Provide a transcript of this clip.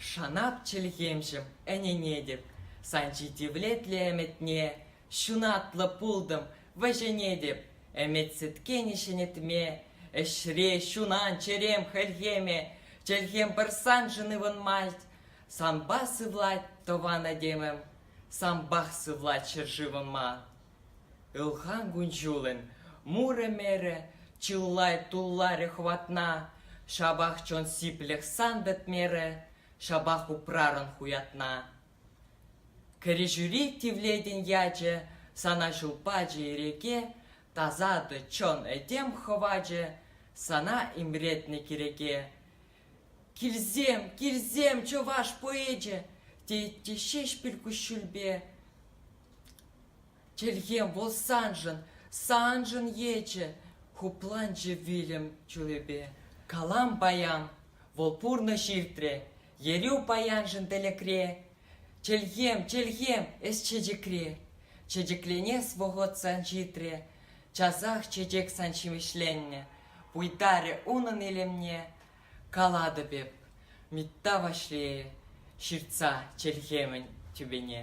Шанап чӗлхемшӗм ӗненетӗп, Сан ҫитивлетлӗ ӗмӗтне Ҫунатлӑ пултӑм, вӗҫӗнетӗп. Ӗмӗт сӗткенӗ ҫӗнетме, Ӗҫре ҫунан чӗрем хӗлхеме, Чӗлхем пӗр саншӑн ывӑнмасть. Санпа сывлать тӑван этемӗм, Санпах сывлать ҫӗршывӑма. Ылхан кун-ҫулӗн мурӗ-мерӗ чылай тулларӗ хӑватна, ҫапах чон сиплӗх сантӑк мерӗ ҫапах упрарӑн хуятна. Кӗрҫӳри тивлетӗн ячӗ сана ҫул пачӗ иреке, тасатӑ чон этем хӑвачӗ сана имретнӗ киреке. Килсем, килсем, чӑваш поэчӗ, теҫҫӗ Ҫеҫпӗл куҫҫульпе. Чӗлхем вӑл саншӑн, саншӑн ечӗ, хупланчӗ вилӗм чулӗпе. Калам паян, вӑл пурнӑҫ иртрӗ, ерӳ паяншӑн тӗлӗкре. Чӗлхем, чӗлхем эс чечекре, чечекленес вӑхӑт сан ҫитрӗ, часах чечек сан ҫимӗҫленнӗ. Пуйтарӗ унӑн илемне, калатӑп эп, Митта Ваҫлейӗ ҫыртса чӗлхемӗн тӳпене.